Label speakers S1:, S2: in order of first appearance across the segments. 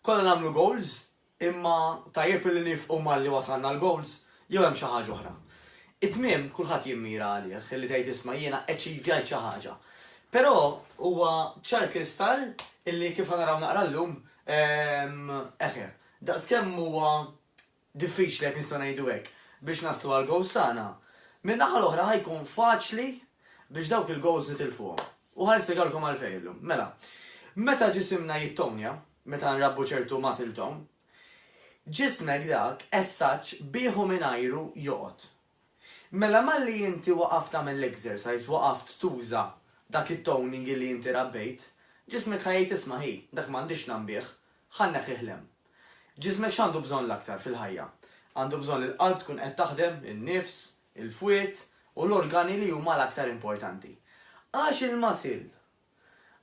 S1: Konna nagħmlu goals, imma tajjeb illi niefqu malli wasalna l-goals jew hemm xi ħaġa oħra. It-tmiem kulħadd jimmira għalih illi tgħid isma' jiena achievjajt xi ħaġa. Però huwa ċar kristall illi kif ħa naraw naqra llum, eħe, daqskemm huwa diffiċli jekk nistgħu ngħidu hekk, biex naslu għall-gowls tagħna, min-naħa l-oħra ħa jkun faċli biex dawk il-gowls nitilfuhom. U ħa nispjegalkom għalfejn illum. Mela, meta ġisimna jittonja, meta nrabbu ċertu muscle tone, ġismek dak essaġġ bih u mingħajru joqgħod. Mela malli inti waqaft tagħmel l-exercise, waqaft tuża dak it-toning li inti rabbejt, ġismek ħa jgħid isma' hi, dak m'għandix ngħam bih, ħa nneħħih l-hemm. Ġismek x'għandu bżonn l-aktar fil-ħajja? Għandu bżonn li l-qalb tkun qed taħdem, in-nifs, il-fwied u l-organi li huma l-aktar importanti. Għax il-muscle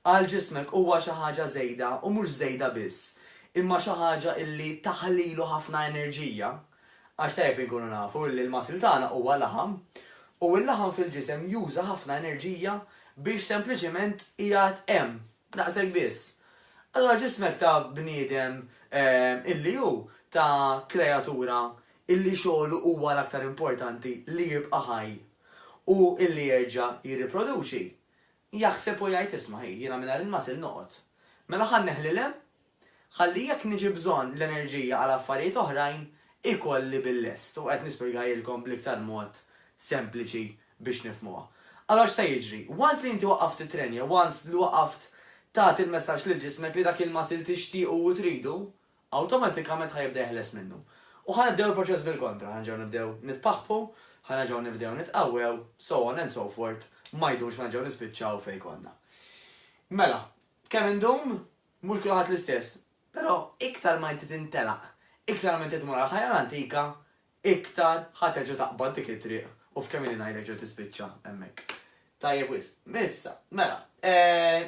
S1: Għal ġismek huwa xi ħaġa żejda u mhux żejda biss, imma xi ħaġa illi taħlilu ħafna enerġija, għax tajjeb inkunu nafu illi l-muscle tagħna huwa laħam, u l-laħam fil-ġisem juża ħafna enerġija biex sempliċiment iqgħad hemm, daqshekk biss. Allura ġismek ta' bniedem illi hu, ta' kreatura illi xogħlu huwa l-aktar importanti li jibqa' ħaj u illi jerġa' jirriproduċi, Jaħseb u jgħid, 'Isma' ħi, jiena mingħajr il-muscle noqgħod. Mela ħa nneħħli l-hemm, ħalli jekk niġi bżonn l-enerġija għal affarijiet oħrajn, ikolli bil-lest. U qed nispjegahielkom bl-iktar mod sempliċi biex nifhmuha. Allura x'se jiġri? Once li inti waqqaft tittrenja, once li waqqaft tagħti l-messaġġ lil ġismek li dak il-muscle tixtiequ u tridu, awtomatikament ħa jibda jeħles minnu. U ħa nibdew il-proċess bil-kontra, ħa nerġgħu nibdew nitpaħħpu, ħa nerġgħu nibdew nitqawwew, so on and so forth, ma jdumx ma nerġgħu nispiċċaw fejn konna. Mela, kemm indum? Mhux kulħadd l-istess. Però iktar ma inti tintelaq, iktar ma inti tmur għall-ħajja l-antika, iktar ħa terġa' taqbad dik it-triq u f'kemm ilha ngħidlek ġa tispiċċa hemmhekk. Tajjeb wisq. Issa, mela,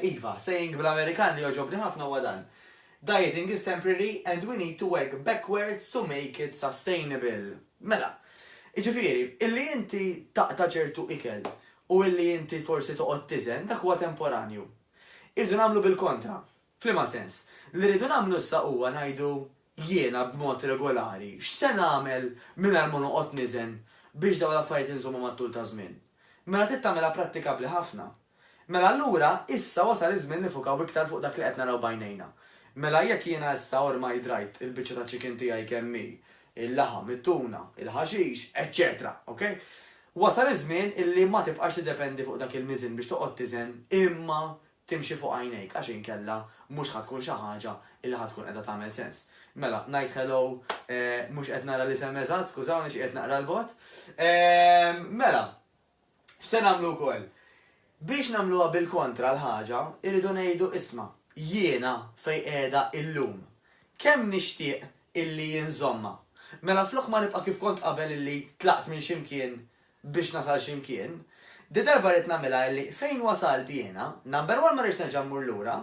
S1: iva, saying bl-Amerikan li jogħġobni ħafna huwa dan, Dieting is temporary and we need to work backwards to make it sustainable. Mela, jiġifieri, illi inti taqta' ċertu ikel u illi inti forsi toqgħod tiżen, dak huwa temporanju. Irridu nagħmlu bil-kontra. F'liema sens? Li rridu nagħmlu issa huwa ngħidu, jiena b'mod regolari x'se nagħmel mingħajr ma noqgħod niżen biex dawn l-affarijiet inżommhom għat-tul taż-żmien? Mela trid tagħmilha prattikabbli ħafna. Mela allura issa wasal iż-żmien nifukaw iktar fuq dak li qed naraw b'għajnejna. Mela jekk jiena issa ormai drajt il-biċċa ta' chicken tiegħi kemm hi, il-laħam, it-tuna, il-ħaxix, eċċetera, ok? Wasal iż-żmien illi ma tibqax tiddependi fuq dak il-miżien biex toqgħod tiżen imma Timxi fuq għajnejk għax inkella mhux ħa tkun xi ħaġa li ħa tkun qiegħda tagħmel sens. Mela, ngħid hello, mhux qed nara l-isem eżatt, skużawni xi qiegħed naqra 'l bogħod. Mela, x'se nagħmlu wkoll? Biex nagħmluha bil-kontra l-ħaġa, irridu ngħidu isma', jiena fejn qiegħda illum, kemm nixtieq illi jien żommha. Mela flok ma nibqa' kif kont qabel illi tlaqt minn xi mkien biex nasal xi mkien. Di darba rrid nagħmilha illi fejn wasalt jiena, number one ma rridx nerġa' mmur lura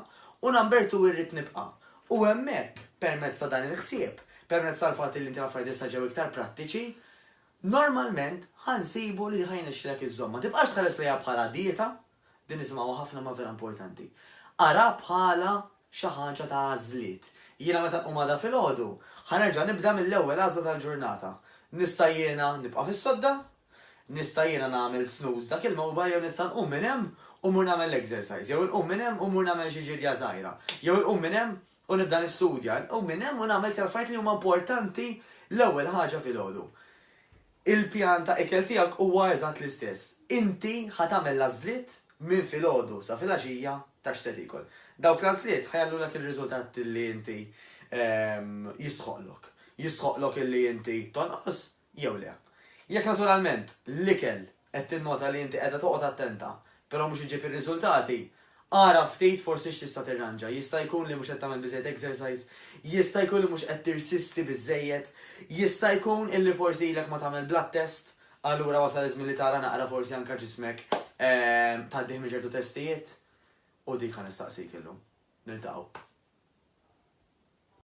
S1: u number two irrid nibqa'. U hemmhekk, permezz ta' dan il-ħsieb, permezz tal-fatt illi inti l-affarijiet issa ġew iktar prattiċi, normalment ħa nsibu li ħa jirnexxilek iżżommha. Tibqax tħares lejha bħala dieta, Din nisimgħuha ħafna imma vera importanti. Ara bħala xi ħaġa ta' għażliet. Jiena meta nqum għada filgħodu, ħa nerġa' nibda mill-ewwel għażla tal-ġurnata. Nista' jiena nibqa' fis-sodda? Nista' jiena nagħmel snooze dak il-mewba jew nista' nqum minn hemm u mmur nagħmel l-exercise, jew inqum minn hemm u mmur nagħmel xi ġirja żgħira, jew inqum minn hemm u nibda nistudja, inqum minn hemm u nagħmel iktar affarijiet li huma importanti l-ewwel ħaġa filgħodu. Il-pjan ta' ikel tiegħek huwa eżatt l-istess. Inti ħa tagħmel l-għażliet minn filgħodu sa filgħaxija ta' x'se tiekol. Dawk l-għażliet ħa jagħllulek ir-riżultat li inti jistħoqqlok. Jistħoqqlok illi inti tonqos jew le. Jekk naturalment l-ikel Qed tinnota li inti qiegħda toqgħod attenta, però mhux iġġib ir-riżultati? Ara ftit forsi x'tista' tirranġa. Jista' jkun li mhux qed tagħmel biżżejjed exercise? Jista' jkun li mhux qed tirsisti biżżejjed? Jista' jkun illi forsi ilek ma tagħmel blood test? Allura wasal iż-żmien li tara naqra forsi anke ġismek tgħaddih minn ċertu testijiet? U dik ħa nistaqsik illum. Niltaqgħu.